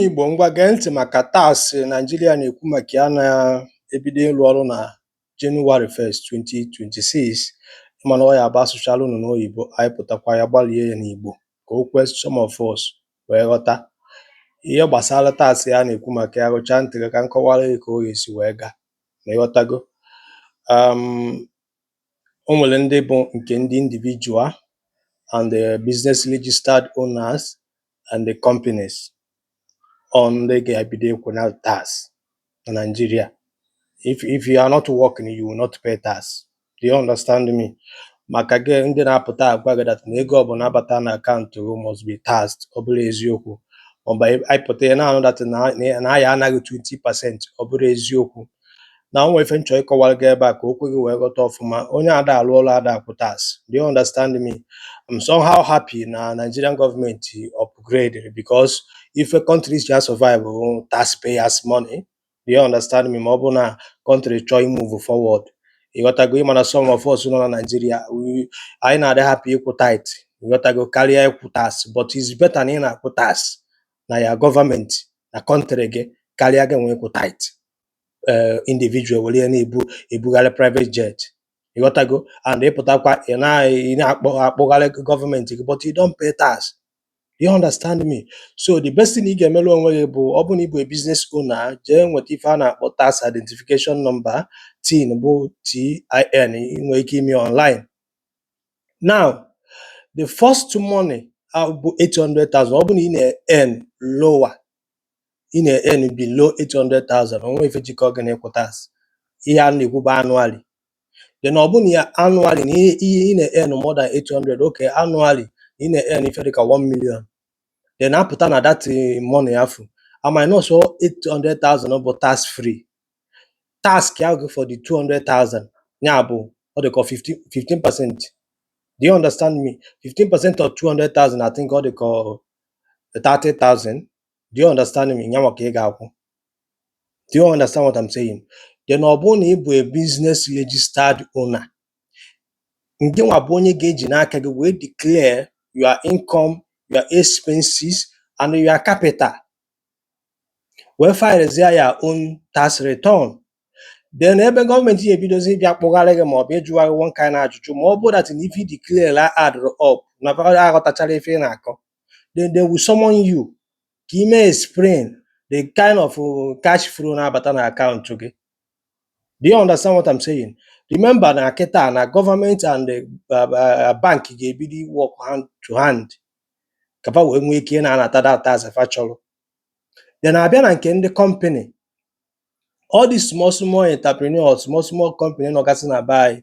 Igbo ngwa gee ntị maka tax Naijiria na-ekwu maka ya na-ebido ịrụ ọrụ na Jenụwarị 1st 2026 ị ma na ọ ya-abụ asụchala unu n'oyibo anyị pụtakwa ya gbalie ya n'Igbo ka o kwee some of us wee ghọta ihe gbasara tax ya na-ekwu maka ya rụchaa ntị gị ka m kọwara gị ka ọ ga-esi wee gaa ma ịghọtago um, o nwere ndị bụ nke ndị individual and the business registered owners and the companies ọ ndị ga-ebido ịkwụ na tax na Naịjirịa if if you are not working you will not pay tax do you understand me maka gị ndị na-apụta agwa gị that na ego ọbụla bata na akaụntụ gị must be taxed ọ bụrọ eziokwu maọbụ ị pụta ị na-anụ that na a ya-ana gị 20 percent ọ bụrọ eziokwu na o nwere ife m chọrọ ịkọwara gị ebe a ka o kwe gị wee ghọta ọfụma onye ada alụ ọrụ ada akwụ tax do you understand me I'm somehow happy na Nigerian gọọmenti upgrade because ife countries ji survive bụ taxpayers money do you understand me ma ọ bụ na country chọọ imove forward ịghọtago ịma na some of us nọ na Nigeria we- anyị na-adị happy ịkwụ tithe ịghọtago karịa ịkwụ tax but it's better na ị na-akwụ tax nye gọọmenti na country gị karịa gị nwa ịkwụ tithe ee individual were ya na-ebugharị private jet ịghọtago and ịpụtakwa ị na- ị na-akpọgharị gọọmenti gị but you don't pay tax Do you understand me? So the best thing ị ga-emere onwe gị bụ ọ bụrụ na ị bụ a business owner, jee nweta ife a na-akpọ tax identification number tin bụ TIN ị nwere ike ime online now the first money a bụ 800,000 ọ bụ na ị na-earn lower ị na-earn below 800,000 o nwe ife jikọ gị na ịkwụ tax ihe a na-ekwu bụ annually then ọ bụ na ya annually na ihe ihe ị na-earn more than 800 okay annually ị na-earn ife dịka 1 million then ọ pụta na that eh, money afụ a minusuo 800,000 bụ tax free taxịa gị for the 200,000 ya bụ ọ dịka 15 percent do you understand me 15 percent of 200,000 I think ọ dịka 30,000 do you understand me ya nwa ka ị ga-akwụ do you understand what I'm saying then ọ bụrụ na ị bụ a business registered owner ngị nwa bụ onye ga-eji n'aka gị wee declare your income your expenses and your capital wee filezie your own tax return then ebe gọọmenti ya-ebidozi ịbịa kpọgharị gị maọbụ ịjụgharị one kind ajụjụ ma ọ bụ that na ife ị declare addịrọ up na aghọtacharọ ife ị na-akọ then they will summon you ka ị mee explain the kind of uh, cash flow na-abata na akaụntụ gị Do you understand what I'm saying? Remember na kịta na gọọmenti and the uh, uh, bank ga-ebido work hand to hand ka fa wee nwee ike ị na-anata that tax fa chọrọ then a bịa na nke ndị company all these small small entrepreneurs small small company nọgasị na be anyị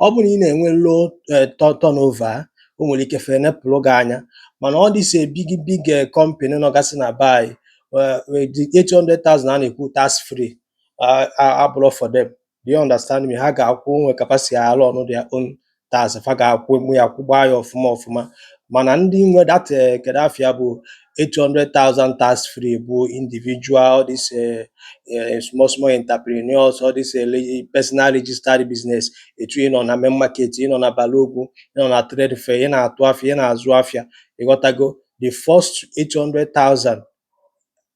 ọ bụ na ị na-enwe low eh, tu- turnover o nwere ike fa enepụrụ gị anya mana all these big big eh, company nọgasị na be anyị eh, eh, the 800,000 a na-ekwu tax free ah, ah, abụrọ for them do you understand me ha ga-akwụ nwe capacity alụ ọnụ their own tax fa ga-akwụ mụ ya kwụgbaa ya ọfụma ọfụma mana ndị nwe that eh, kedu afa ya bụ 800,000 tax free bụ individual all these eh, eh, small small entrepreneurs all these eh, le- personal registered business etu ị nọ na main market ị nọ na Balogun ị nọ na trade fair ị na-atụ afịa ị na-azụ afịa ị ghọtago the first 800,000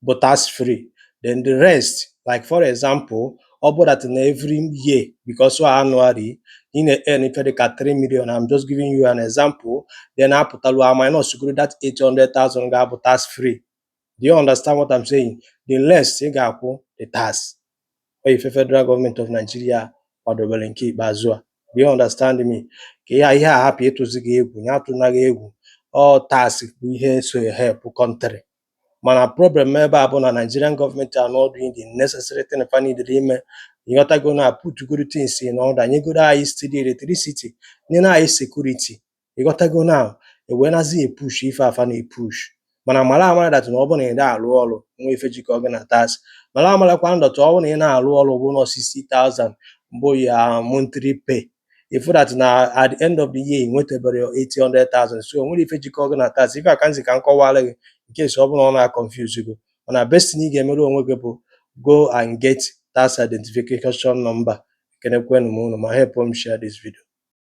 bụ tax free then the rest like for example ọ bụ that na every year because ọ annually ị na-earn ife dịka 3 million I'm just giving you an example then apụtalu a minusgoro that 800,000 ga-abụ tax free do you understand what I'm saying the rest ị ga-akwụ the tax ọ ife federal government of Nigeria kwadobere nke ikpeazụ a do you understand me ka ihe ihe a hapụ ịtụzi gị egwu ya atụna gị egwu ọ tax bụ ihe so help country mana problem ebe a bụ na Nigerian government are not doing the necessary thing fa needere ime ị ghọtago na putugodu things in order nyegodu anyị steady electricity nyere anyị security ị ghọtago na e wee nazi epush ife a fa na-epush mana mara amara that na ọ bụ na ị na-arụ ọrụ nwe ife jikọ gị na tax mara amarakwa that ọ bụ na ị na-arụ ọrụ bụ na 60,000 bụ your monthly pay if that na at the end of the year nwetaberọ 800,000 so nwerọ ife jikọ gị na tax ife a ka m sị ka m kọwara gị in case ọ bụ na ọ na-aconfuse gị mana best thing ị ga-emere onwe gị bụ go and get tax identification number ekenekwenụ m unu ma help m share this video